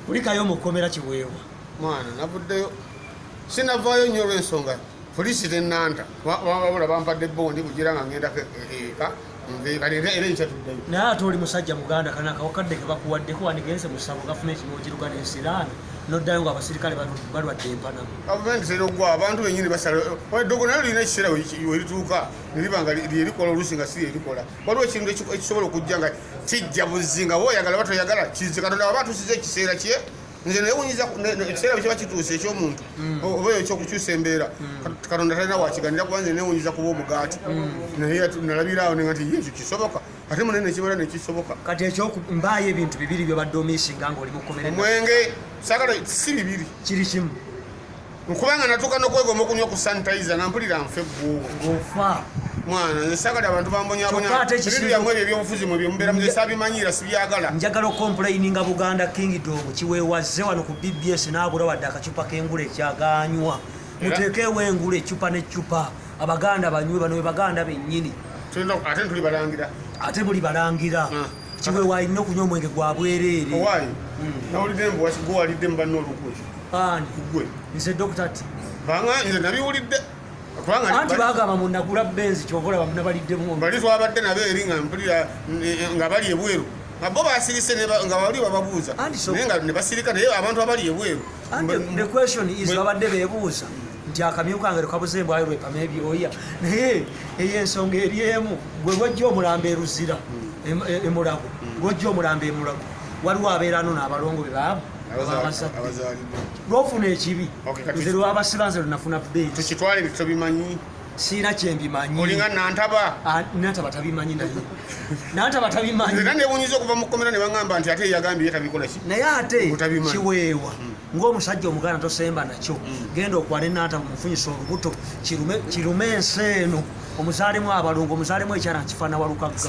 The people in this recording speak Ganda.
kulikayo mukomera kiweewa mwana navuddeyo sinavaayo nnyo olwensonga poliisi tenanta wabula bampadde bondi kugira nga ngendako eka naye ate oli musajja muganda kana akawakadde kebakuwaddeko wandigenze musabo gavumenti nogiruga nensiraano noddayo nga abasirikale balwadde empana gavumenti tera ogwa abantu benyini basala eddogo naye lirina ekiseera werituuka neriba nga lyerikola oluusi nga si lyerikola waliwo ekintu ekisobola okujja nga kijja buzzi nga woyagala oba toyagala kizze katonda waba atusiza ekiseera kye nze newunyiza ekiseera bwe kiba kituuse ekyomuntu mm. oba eyo ekyokukyusa embeera mm. katonda talina wakiganira kuba nze newunyiza kuba omugaati mm. naye nalabiraawo nenga nti ekyo kisoboka ate mune nekibala nekisoboka kati ekyo mbaayo ebintu bibiri byobadde omisinga ngaoli mukomere omwenge sagala si bibiri kiri kimu nkubanga natuuka nokwegoma okunywa ku sanitizer nga mpulira nfe gwofa mwana nze sagala abantu bambonyabonyaebintu byamwe ebyo ebyobufuzi mwe byemubeera muze sabimanyira sibyagala njagala okompulayinga buganda kingdom kiwewazze wano ku bbs naabula wadde akacupa k'engula ekyaganywa muteekeewo engula ecupa n'ecupa abaganda banywe bano be baganda bennyini ate tuli balangira ate buli balangira ah. kiwe walina okunywa omwenge gwa bwereere owaayi hmm. nawulidde mbu wasigwe walidde mu banna olukwe ani kugwe nze dokita ti banga nze nabiwulidde anti bagamba munagula benzi kyova olaba munabaliddemu bali twabadde nabo eri nga mpulira nga bali ebweru abo basirise nga bali bababuuza naye nga nebasirika naye abantu abali ebweru the question is babadde bebuuza nti akamyu kange lekabuze embwayo lwepama ebyoya naye eyo ensonga eri emu gwe lwojja omulamba eruzira hmm. e, emulago hmm. lwojja omulamba emulago waliwo abeerano naabalongo be baamu lwofuna ekibi nze lwabasiba nze lwenafuna bbeekitwale ebyo tobimanyi siina kyembimanyiinga nantaba ah, nantaba tabimanyi naye nantaba tabimanyi era newunyiza okuva mu kkomera ne bagamba nti ate yagambye tabikola naye ate kiweewa hmm. ng'omusajja omuganda tosemba nakyo mm. genda okwale nanta mumufunyisa olubuto kirume ensi eno omuzaalemu abalungu omuzaalemu ekyana nkifaana walukagga